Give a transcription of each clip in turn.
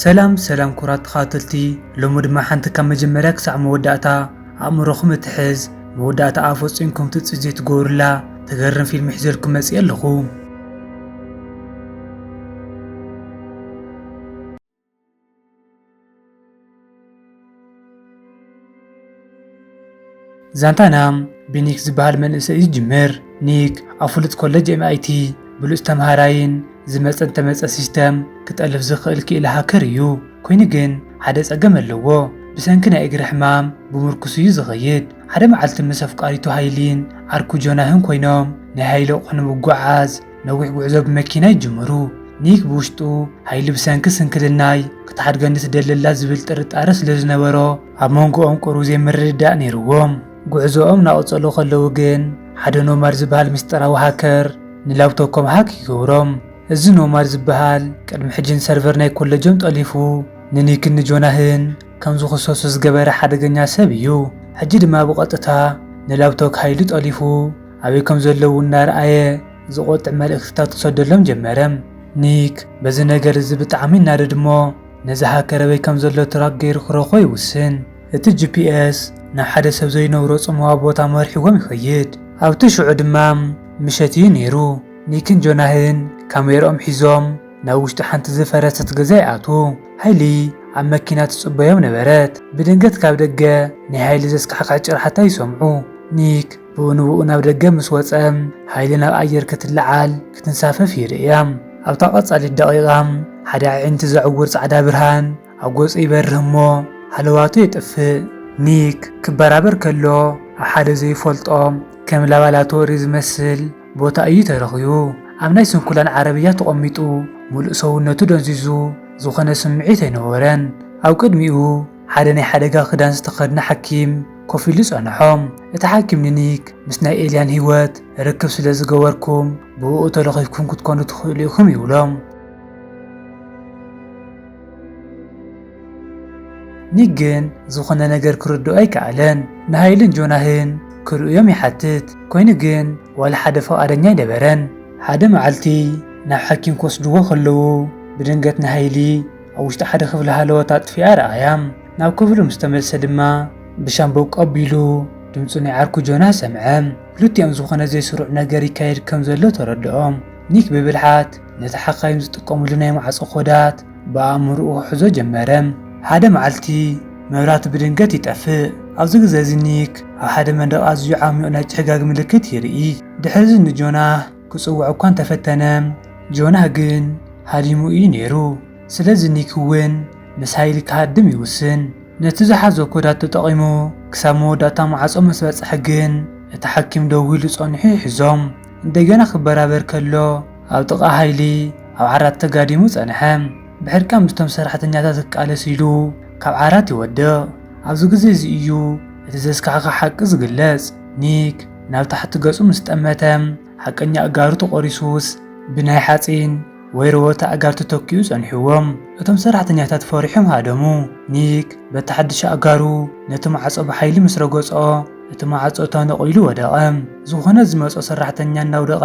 ሰላም ሰላም ኩቡራት ተኻታተልቲ ሎሚ ድማ ሓንቲ ካብ መጀመርያ ክሳዕ መወዳእታ ኣእምሮኹም እትሕዝ መወዳእታኣ ፈጺምኩም ትጽቢት ዘይትገብሩላ ተገርም ፊልሚ ሒዘልኩም መጺኤ ኣለኹ። ዛንታና ብኒክ ዝበሃል መንእሰይ እዩ ዝጅምር። ኒክ ኣብ ፍሉጥ ኮለጅ ኤምኣይቲ ብሉጽ ተመሃራይን ዝመጸን ተመጸ ሲስተም ክጠልብ ዝኽእል ክኢላ ሃከር እዩ። ኮይኑ ግን ሓደ ጸገም ኣለዎ። ብሰንኪ ናይ እግሪ ሕማም ብምርኩስ እዩ ዝኸይድ። ሓደ መዓልቲ ምስ ኣፍቃሪቱ ሃይሊን ዓርኩ ጆናህን ኮይኖም ናይ ሃይሊ ኣቑሑ ንምጉዕዓዝ ነዊሕ ጉዕዞ ብመኪና ይጅምሩ። ኒክ ብውሽጡ ሃይሊ ብሰንኪ ስንክልናይ ክትሓድገኒ ትደሊ ኣላ ዝብል ጥርጣረ ስለ ዝነበሮ ኣብ መንጎኦም ቁሩብ ዘይምርድዳእ ነይርዎም። ጉዕዞኦም እናቐጸሉ ከለዉ ግን ሓደ ኖማድ ዝበሃል ምስጢራዊ ሃከር ንላብቶኮም ሃክ ይገብሮም። እዚ ኖማድ ዝበሃል ቅድሚ ሕጂ ንሰርቨር ናይ ኮለጆም ጠሊፉ ንኒክን ንጆናህን ከም ዝኽሰሱ ዝገበረ ሓደገኛ ሰብ እዩ። ሕጂ ድማ ብቐጥታ ንላብቶክ ሃይሊ ጠሊፉ ኣበይ ከም ዘለዉ እናርኣየ ዝቖጥዕ መልእኽትታት ክሰደሎም ጀመረ። ኒክ በዚ ነገር እዚ ብጣዕሚ ይናደድ እሞ ነዚ ሃከር ኣበይ ከም ዘሎ ትራክ ገይሩ ክረኽቦ ይውስን። እቲ ጂፒኤስ ናብ ሓደ ሰብ ዘይነብሮ ጽምዋ ቦታ መሪሕዎም ይኸይድ። ኣብቲ ሽዑ ድማ ምሸት እዩ ነይሩ። ኒክን ጆናህን ካሜርኦም ሒዞም ናብ ውሽጢ ሓንቲ ዝፈረሰት ገዛ ይኣትዉ። ሃይሊ ኣብ መኪና ትጽበዮም ነበረት። ብድንገት ካብ ደገ ናይ ሃይሊ ዘስካሕክሕ ጭርሓታ ይሰምዑ። ኒክ። ብኡንብኡ ናብ ደገ ምስ ወጸ፣ ሓይሊ ናብ ኣየር ክትለዓል ክትንሳፈፍ ይርእያ። ኣብታ ቀጻሊት ደቒቓ፣ ሓደ ኣዒንቲ ዘዕውር ጻዕዳ ብርሃን ኣብ ገጹ ይበርህ እሞ ሃለዋቱ የጥፍእ። ኒክ ክበራበር ከሎ ኣብ ሓደ ዘይፈልጦ ከም ላባላቶሪ ዝመስል ቦታ እዩ ተረኺቡ። ኣብ ናይ ስንኩላን ዓረብያ ተቐሚጡ ምሉእ ሰውነቱ ደንዚዙ ዝኾነ ስምዒት ኣይነበሮን። ኣብ ቅድሚኡ፣ ሓደ ናይ ሓደጋ ክዳን ዝተኸድነ ሓኪም ኮፍ ኢሉ ጸንሖም። እቲ ሓኪም ንኒክ፣ ምስ ናይ ኤልያን ህይወት ርክብ ስለ ዝገበርኩም፣ ብእኡ ተለኺፍኩም ክትኮኑ ትኽእሉ ኢኹም ይብሎም። ኒክ ግን ዝኾነ ነገር ክርድኦ ኣይከኣለን። ንሃይልን ጆናህን ክርእዮም ይሓትት፣ ኮይኑ ግን ዋላ ሓደ ፍቓደኛ ኣይነበረን። ሓደ መዓልቲ ናብ ሓኪም ክወስድዎ ከለዉ ብድንገት ንሃይሊ፣ ኣብ ውሽጢ ሓደ ክፍሊ ሃለዎት ኣጥፊኣ ረኣያ። ናብ ክፍሉ ምስ ተመልሰ ድማ ብሻምበቆ ኣቢሉ ድምጺ ናይ ዓርኩ ጆናስ ሰምዐ። ክልቲኦም ዝኾነ ዘይስሩዕ ነገር ይካየድ ከም ዘሎ ተረድኦም። ኒክ ብብልሓት ነቲ ሓካይም ዝጥቀምሉ ናይ ማዕጾ ኮዳት ብኣእምሮኡ ክሕዞ ጀመረ። ሓደ መዓልቲ መብራህቲ ብድንገት ይጠፍእ። ኣብዚ ግዜ እዚ ኒክ ኣብ ሓደ መንደቕ ኣዝዩ ዓሚቝ ናይ ጭሕጋግ ምልክት ይርኢ። ድሕሪ እዚ ንጆናህ። ክጽውዕ እኳ እንተ ፈተነ፣ ጆና ግን ሃዲሙ ኢዩ ነይሩ። ስለዚ ኒክ እውን ምስ ሃይሊ ክሃድም ይውስን። ነቲ ዝሓዞ ኮዳት ተጠቒሙ ክሳብ መወዳእታ ማዕጾ ምስ በጽሐ ግን እቲ ሓኪም ደው ኢሉ ጸኒሑ ይሕዞም። እንደገና ክበራበር ከሎ ኣብ ጥቓ ሃይሊ ኣብ ዓራት ተጋዲሙ ጸንሐ። ብሕርቃን ምስቶም ሰራሕተኛታት ክቃለስ ኢሉ ካብ ዓራት ይወድቕ። ኣብዚ ግዜ እዚ ኢዩ እቲ ዘስካሕክሕ ሓቂ ዝግለጽ። ኒክ። ናብ ታሕቲ ገጹ ምስ ጠመተ፣ ሓቀኛ ኣእጋሩ ተቖሪሱስ ብናይ ሓጺን ወይ ረወርቲ ኣእጋር ተተኪኡ ጸኒሕዎ። እቶም ሰራሕተኛታት ፈሪሖም ሃደሙ። ኒክ በቲ ሓድሽ ኣእጋሩ ነቲ ማዕጾ ብሓይሊ ምስ ረገጾ፣ እቲ ማዕጾ ተነቒሉ ወደቐ። ዝኾነ ዝመጾ ሰራሕተኛ እናውደቐ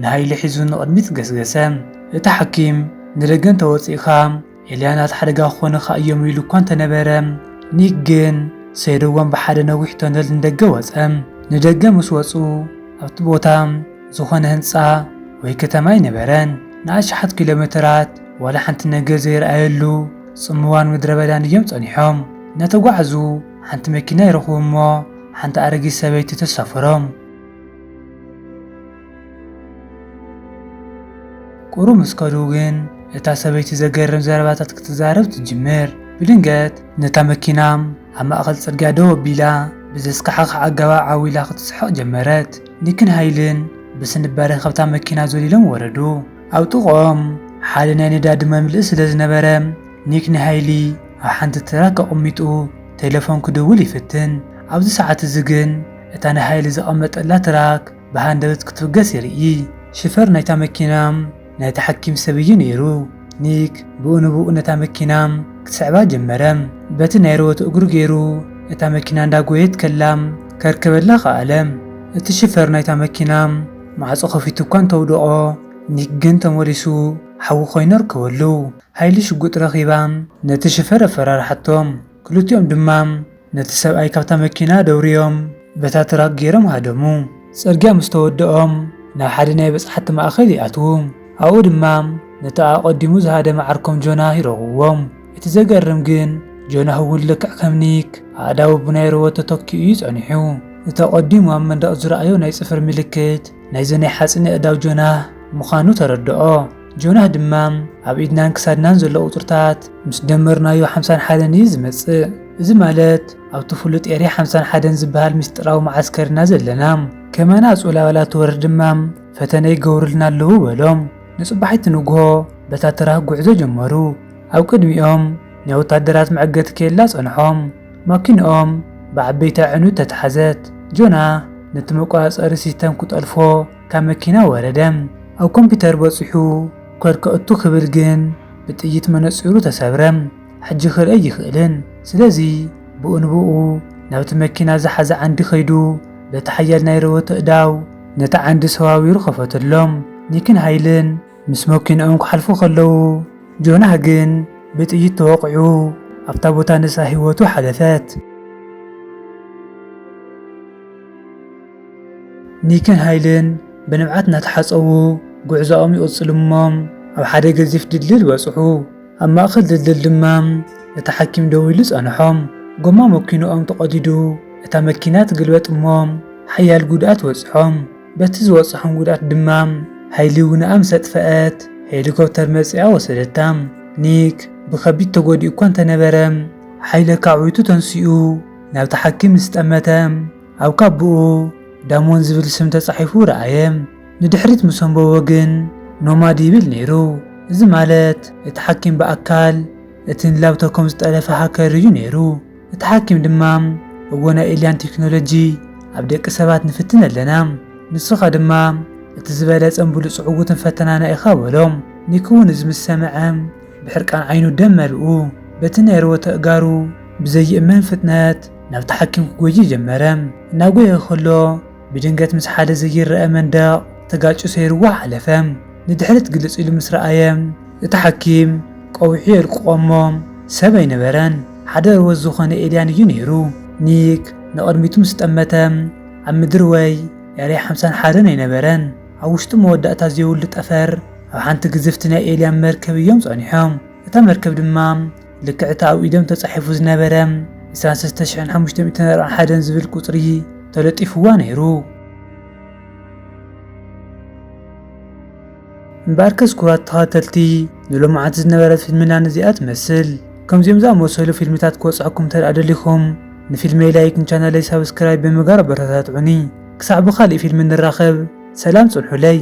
ንሃይሊ ሒዙ ንቕድሚት ገስገሰ። እቲ ሓኪም፣ ንደገ እንተ ወጺእካ፣ ኤልያናት ሓደጋ ክኾኑኻ እዮም ኢሉ እኳ እንተ ነበረ፣ ኒክ ግን ሰይሩዎም ብሓደ ነዊሕ ቶነል ንደገ ወጸ። ንደገ ምስ ወጹ፣ ኣብቲ ቦታ ዝዀነ ህንጻ ወይ ከተማ ኣይነበረን። ንኣሽሓት ኪሎሜተራት ዋላ ሓንቲ ነገር ዘይረኣየሉ ጽምዋን ምድረበዳን እዮም ጸኒሖም። እናተጓዕዙ ሓንቲ መኪና ይረኽቡ እሞ ሓንቲ ኣረጊት ሰበይቲ ተሳፍሮም። ቍሩብ ምስ ከዱ ግን እታ ሰበይቲ ዘገርም ዘረባታት ክትዛረብ ትጅምር። ብድንገት ነታ መኪና ኣብ ማእከል ጽርግያ ደው ኣቢላ ብዘስካሕኽሕ ኣገባብ ዓው ኢላ ክትስሕቕ ጀመረት። ኒክን ሃይልን ብስንባደ ካብታ መኪና ዘሊሎም ወረዱ። ኣብ ጥቕኦም ሓደ ናይ ነዳዲ መምልኢ ስለ ዝነበረ ኒክ ንሃይሊ ኣብ ሓንቲ ትራክ ኣቐሚጡ ቴለፎን ክድውል ይፍትን። ኣብዚ ሰዓት እዚ ግን እታ ንሃይሊ ዘቐመጠላ ትራክ ብሃንደበት ክትብገስ ይርኢ። ሽፈር ናይታ መኪና ናይቲ ሓኪም ሰብ እዩ ነይሩ። ኒክ ብኡ ንብኡ ነታ መኪና ክትስዕባ ጀመረ። በቲ ናይ ረወት እግሩ ገይሩ እታ መኪና እንዳጎየየት ከላ ከርከበላ ከኣለ። እቲ ሽፈር ናይታ መኪና ማዕጾ ከፊቱ እኳ እንተውደቖ ኒክ ግን ተመሊሱ ሓዊ ኮይኑ ኣርከበሉ። ሃይሊ ሽጉጥ ረኺባ ነቲ ሽፈር ኣፈራርሓቶ። ክልቲኦም ድማ ነቲ ሰብኣይ ካብታ መኪና ደውርዮም በታ ትራክ ገይሮም ሃደሙ። ጽርግያ ምስ ተወድኦም ናብ ሓደ ናይ በጻሕቲ ማእከል ይኣትዉ። ኣብኡ ድማ ነቲ ኣቐዲሙ ዝሃደመ ዓርኮም ጆናህ ይረኽብዎ። እቲ ዘገርም ግን ጆናህ እውን ልክዕ ከም ኒክ ኣእዳዉ ብናይ ሮቦት ተተኪኡ እዩ ጸኒሑ። እቲ ኣቐዲሙ ኣብ መንደቕ ዝረኣዮ ናይ ጽፍሪ ምልክት ናይዚ ናይ ሓጺን ኣእዳው ጆናህ ምኻኑ ተረድኦ። ጆናህ ድማ ኣብ ኢድናን ክሳድናን ዘሎ ቁጽርታት ምስ ደመርናዮ ሓምሳን ሓደን እዩ ዝመጽእ። እዚ ማለት ኣብቲ ፍሉጥ ኤርያ ሓምሳን ሓደን ዝበሃል ምስጢራዊ መዓስከር ኢና ዘለና። ከማና ኣጹላ ዋላ ትወርድ ድማ ፈተነ ይገብሩልና ኣለዉ በሎም። ንጽባሒቲ ንግሆ በታ ትራክ ጉዕዞ ጀመሩ። ኣብ ቅድሚኦም ናይ ወታደራት መዐገቲ ኬላ ጸንሖም። ማኪንኦም ብዓበይቲ ኣዕኑድ ተታሕዘት። ጆናህ ነቲ መቆጻጸሪ ሲስተም ክጠልፎ ካብ መኪና ወረደ። ኣብ ኮምፒተር በጺሑ ኮድ ከእቱ ክብል ግን ብጥይት መነጺሩ ተሰብረ። ሕጂ ክርኢ ኣይክእልን። ስለዚ ብኡ ንብኡ ናብቲ መኪና ዝሓዘ ዓንዲ ከይዱ በቲ ሓያል ናይ ረወቶ ኣእዳው ነቲ ዓንዲ ሰዋዊሩ ከፈተሎም። ኒክን ሃይልን ምስ መኪንኦም ክሓልፉ ከለዉ ጆናህ ግን ብጥይት ተወቒዑ ኣብታ ቦታ ንሳ ህይወቱ ሓለፈት። ኒክን ሃይልን ብንብዓት እናተሓጸቡ ጉዕዞኦም ይቕጽሉ እሞ ኣብ ሓደ ገዚፍ ድልድል በጽሑ። ኣብ ማእከል ድልድል ድማ እቲ ሓኪም ደው ኢሉ ጸንሖም። ጎማ መኪንኦም ተቐዲዱ እታ መኪና ትግልበጥ እሞ ሓያል ጉድኣት በጽሖም። በቲ ዝበጽሖም ጉድኣት ድማ ሃይሊ ውነኣ ምስ ኣጥፈኣት ሄሊኮፕተር መጺኣ ወሰደታ። ኒክ ብከቢድ ተጎዲኡ እኳ እንተነበረ ሓይሊ ኣካዕዊቱ ተንሲኡ ናብቲ ሓኪም ምስ ጠመተ፣ ኣብ ካቡኡ ዳሞን ዝብል ስም ተጻሒፉ ረኣየ። ንድሕሪት ምስ ኣንበቦ ግን ኖማድ ይብል ነይሩ። እዚ ማለት እቲ ሓኪም ብኣካል እቲ ንላብቶኮም ዝጠለፈ ሃከር እዩ ነይሩ። እቲ ሓኪም ድማ እወ ናይ ኤልያን ቴክኖሎጂ ኣብ ደቂ ሰባት ንፍትን ኣለና። ንስኻ ድማ እቲ ዝበለጸን ብሉጽ ዕዉትን ፈተናና ኢኻ በሎ። ኒክ'ውን እዚ ምስ ሰምዐ ብሕርቃን ዓይኑ ደም መልኡ። በቲ ናይ ርወተ እጋሩ ብዘይእመን ፍጥነት። ናብታ ሓኪም ክጎዪ ጀመረ። እናጎየ ከሎ ብድንገት ምስ ሓደ ዘይረኣ መንደቕ ተጋጭዩ ሰይሩዎ ሓለፈ። ንድሕሪት ግልጽ ኢሉ ምስ ረኣየ እቲ ሓኪም ቀዊሑ የልቅቖ እሞ ሰብ ኣይነበረን። ሓደ ርወት ዝኾነ ኤልያን እዩ ነይሩ። ኒክ ንቕድሚቱ ምስ ጠመተ ኣብ ምድሪ ወይ ኤርያ ሓምሳን ሓደን ኣይነበረን። ኣብ ውሽጢ መወዳእታ ዘይብሉ ጠፈር ኣብ ሓንቲ ግዝፍቲ ናይ ኤልያን መርከብ እዮም ጸኒሖም። እታ መርከብ ድማ ልክዕ እቲ ኣብ ኢዶም ተጻሒፉ ዝነበረ ዕስራን ሰለስተ ሽሕን ሓሙሽተ ሚእትን ኣርባዓን ሓደን ዝብል ቁጽሪ ተለጢፉዋ ነይሩ። እምበኣርከስ ክቡራት ተኸታተልቲ ንሎማዓንቲ ዝነበረት ፊልምና ነዚኣ ትመስል። ከምዚኦም ዝኣመሰሉ ፊልምታት ክበጽሑኩም እንተድኣ ደሊኹም ንፊልመይ ላይክ ንቻነለይ ሳብስክራይብ ብምግባር ኣበረታትዑኒ። ክሳዕ ብኻሊእ ፊልም ንራኸብ ሰላም ጽንሑለይ።